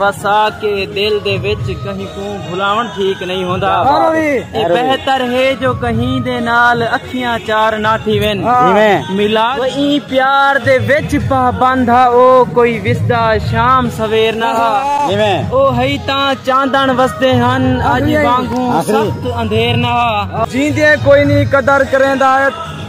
وسا کے دل دے وچ کہیں کوں بھلاون ٹھیک نئیں ہوندا اے بہتر ہے جو کہیں دے نال اکھیاں چار نہ تھیون ملا ایں پیار دے وچ پابند ہا او کوئی وسدا شام سویر نہ ہا او ہئی تاں چاندن وسدے ہن اج وانگوں سخت اندھیر نہ ہا جیندے کوئی نئیں قدر کریندا اے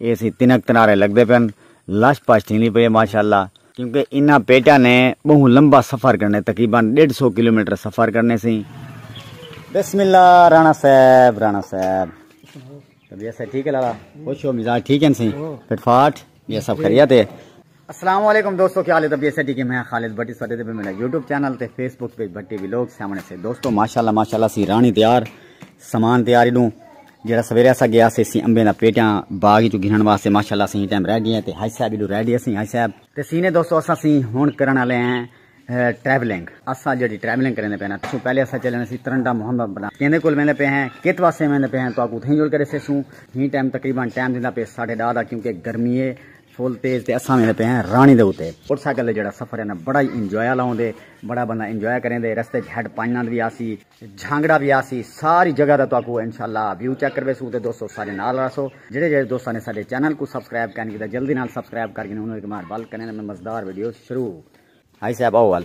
اے سی تنک تنارے لگدے پن لش پش تھیندی پئی اے ماشاءاللہ۔ کیونکہ انہاں پیٹاں نے بہوں لمبا سفر کرنے تقریبا ڈیڈھ سو کلومیٹر سفر کرنے سی۔ بسم اللہ رانا صاحب رانا صاحب طبیعت صحت ٹھیک ہے لالا خوش ہو مزاج ٹھیک ہن سی فٹ فاٹ یہ سب خیریت ہے۔ السلام علیکم دوستو کیا حال ہے تب یہ سٹی کے میں خالد بھٹی سوڈے دے میرا یوٹیوب چینل تے Facebook page Bhatti vlog سامنے سے دوستو ماشاءاللہ ماشاءاللہ سی رانی تیار سامان تیار ہی دوں جڑا سویرے اسا گیا سی سی امبے دا پیٹاں باغ جو گھنن واسطے ماشاءاللہ سی ٹائم رہ گئے تے حاج صاحب لو ریڈی اسی حاج صاحب تے سینے دوستو اسا سی ہن کرن والے ہیں ٹریولنگ اسا جڑی ٹریولنگ کرنے پے نا تو پہلے اسا چلنے سی ترنڈا محمد بنا کیندے کول میندے پے ہیں کت واسطے میندے پے ہیں تو اکو تھیں جوڑ کرے سے سوں ہی ٹائم تقریبا ٹائم دیندا پے 10:30 دا کیونکہ گرمی ہے فل تیز تے اساں ویندے پئے ہیں رانی دے اتے۔ موٹر سائیکل تے جیڑھا سفر ہے نا بڑا ہی انجوائے آلا ہوندے۔ بڑا بندہ انجوائے کریندے۔ رستے اچ ہیڈ پنج نند وی آسی۔ جھانگڑا وی آسی۔ ساری جگہ دا تہاکوں انشاءاللہ ویو چیک کرویسوں تے دوستو سارے نال رہسو۔ جیڑھے جیڑھے دوستاں نے ساڈے چینل کوں سبسکرائب کائنی کیتا جلدی نال سبسکرائب کر گھنوں انہاں دی کمانڈ ول کریندے میں مزدار ویڈیو شروع ہائی صاحب آؤ ول۔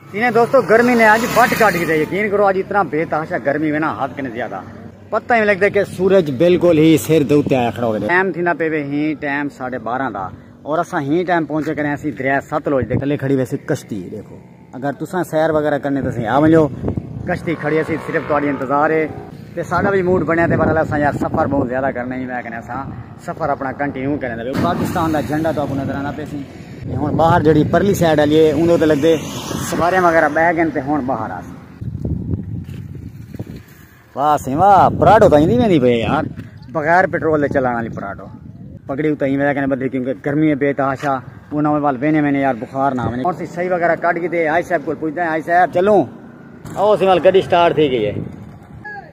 انہیں دوستو گرمی نے آج بٹ کاٹ گئے یقین کرو آج اتنا بے تحاشا گرمی میں نا ہاتھ کنے زیادہ پتہ ہی لگتا ہے کہ سورج بالکل ہی سر دے اوتے آیا کھڑا ہو گیا ٹائم تھیندا پے وے ہی ٹائم 12:30 دا اور اساں ہی ٹائم پہنچے کرے اسی دریا ستلوج دے کلے کھڑی ویسی کشتی دیکھو اگر تساں سیر وغیرہ کرنے تے اسی آ ونجو کشتی کھڑی اسی صرف تہاڈی انتظار ہے تے ساڈا بھی موڈ بنیا تے پر اساں یار سفر بہت زیادہ کرنا ہی میں کنے اساں سفر اپنا کنٹینیو کریں دے پاکستان دا جھنڈا تو آپ نظر آنا پہ سی ہون باہر جڑی پرلی سائیڈ آلیے ان دو تے لگ دے سوارے مغیرہ بہ گئن تے ہون باہر آسی واہ سی واہ پراڈو تائیں دی میں دی پہ یار بغیر پیٹرول دے چلانا لی پراڈو پکڑی ہوتا ہی میں دیکھنے بدھے کیونکہ گرمی میں بے تحاشا وہ نہ ہوئے بال بینے میں نے یار بخار نہ ہوئے اور سی صحیح وغیرہ کٹ گی دے آئی صاحب کو پوچھتے ہیں آئی صاحب چلوں او سی مال گڑی سٹارٹ تھی گئی ہے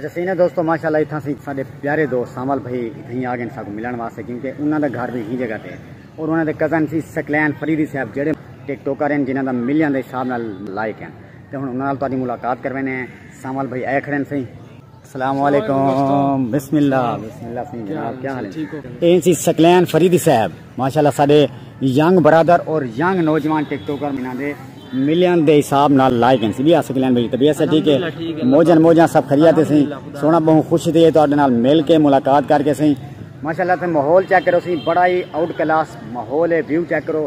اچھا سینے دوستو ماشاءاللہ اتھاں سی ساڈے پیارے دوست سامل بھائی اتھیں آ گئے ساکو ملن واسطے کیونکہ انہاں دا گھر بھی ہی جگہ تے اور انہاں دے کزن سی سکلین فریدی صاحب جڑے ٹک ٹوکر ہیں جنہاں دا ملیاں دے حساب نال لائق ہیں تے ہن انہاں نال تہاڈی ملاقات کروینے ہیں سامل بھائی اے کھڑے ہیں سہی السلام علیکم بسم اللہ بسم اللہ سنگھ جناب کیا حال ہے این سی سکلین فریدی صاحب ماشاءاللہ سارے ینگ برادر اور ینگ نوجوان ٹک ٹوکر منا دے ملین دے حساب نال لائک ہیں سی بھی آسے کلین بھئی طبیعت سے ٹھیک ہے موجن موجن سب خریاتے سی سونا بہن خوش دیئے تو آدھے نال مل کے ملاقات کر کے سی ماشاءاللہ تے ماحول چیک کرو سی بڑا ہی آؤٹ کلاس ماحول ہے ویو چیک کرو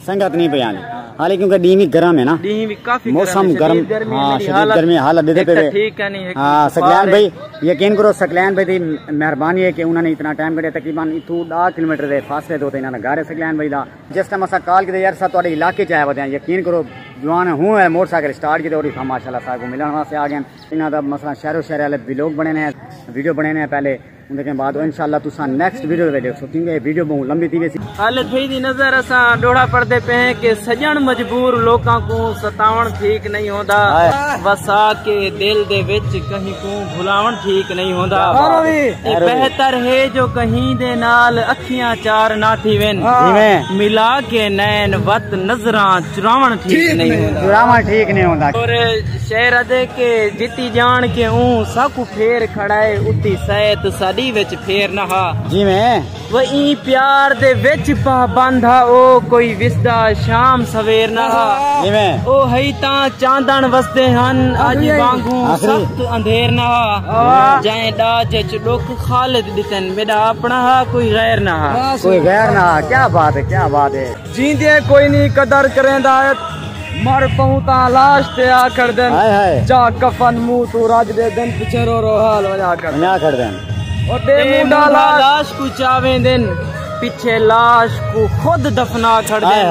سنگت نہیں پہ آنی حالی کیونکہ ڈی وی گرم ہے نا ڈی وی کافی موسم گرم ہاں شدید گرمی حالت دیتے پہ ٹھیک ہے نہیں ہاں سکلین بھائی یقین کرو سکلین بھائی دی مہربانی ہے کہ انہوں نے اتنا ٹائم کرے تقریبا اتو ڈا کلومیٹر دے فاصلے دو تے انہاں دا گھر ہے سکلین بھائی دا جس ٹائم اسا کال کیتے یار سا تواڈے علاقے چ آیا ودے ہیں یقین کرو جوان ہوں ہے موٹر سائیکل سٹارٹ کیتے اور ہاں ماشاءاللہ صاحب کو ملن واسطے آ گئے انہاں دا مثلا شہر و شہر والے ویلوگ بنے نے ویڈیو بنے نے پہلے اندے کے بعد انشاءاللہ تساں نیکسٹ ویڈیو دے ویڈیو سوتیں گے ویڈیو بہوں لمبی تھی ویسی حال تھئی دی نظر اساں ڈوڑا پڑدے پہ ہیں کہ سجن مجبور لوکاں کو ستاون ٹھیک نہیں ہوندا وسا کے دل دے وچ کہیں کو بھلاون ٹھیک نہیں ہوندا اے بہتر ہے جو کہیں دے نال اکھیاں چار نہ تھی وین ملا کے نین وط نظراں چراون ٹھیک نہیں ہوندا چراون ٹھیک نہیں ہوندا اور شعر ادے کے جتی جان کے اون ساکو پھیر کھڑا اے اتی سیت ساڈی وچ پھیر نہ ہا جیویں و ایں پیار دے وچ پا بند ہا او کوئی وسدا شام سویر نہ ہا جیویں او ہئی تاں چاندن وسدے ہن اج وانگوں سخت اندھیر نہ ہا جائیں ڈاج اچ ڈوکھ خالد ڈتن میڈا اپنا ہا کوئی غیر نہ ہا کوئی غیر نہ ہا کیا بات ہے کیا بات ہے جیندیں کوئی نی قدر کریندا ات مر پہوں تاں لاش تے آ کھڑدن جا کفن منہ توں رج دے دن پچھے رو رو حال ونجا کھڑدن او تے مونڈا لاش کو چاویں دن پچھے لاش کو خود دفنا چھڑ دے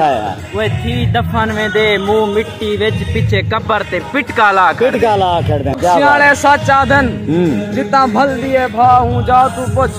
وہ تھی دفن میں دے مو مٹی وچ پچھے کبر تے پٹکا لا کھڑ دے سیانے سچ آدھن جتا بھل دیئے بھا ہوں جا تو پچھ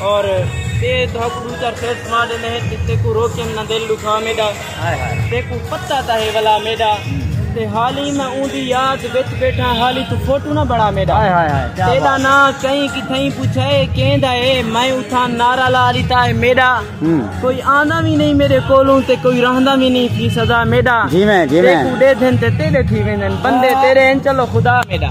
اور تے تہاکو دو چار سیٹ سما دے نہیں تے تیکو روکے نہ دل دکھا میڈا تیکو پتہ تا ہے ولا میڈا تے حالی میں اون دی یاد وچ بیٹھا حالی تو فوٹو نہ بڑا میڈا تیرا نا کہیں کی تھیں پوچھا ہے کہیں دا ہے میں اتھا نارا لا لیتا ہے میڈا کوئی آنا بھی نہیں میرے کولوں تے کوئی رہنا بھی نہیں تھی سزا میڈا جی میں جی میں تیکو دے دھن تے تیرے تھی ویندن بندے تیرے ہیں چلو خدا میڈا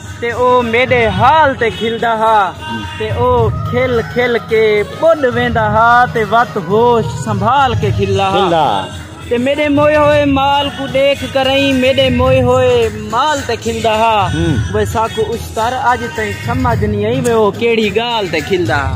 تے او میݙے حال تے کھلدا ہا تے او کھل کھل کے ٻݙ ویندا ہا تے وت ہوش سنبھال کے کھلدا ہا تے میݙے موئے ہوئے مال کوں ݙیکھ کرئیں میݙے موئے ہوئے مال تے کھلدا ہا وے ساکوں اشتر اڄ تئیں سمجھ نی آئی وے او کیڑھی ڳالھ تے کھلدا ہا۔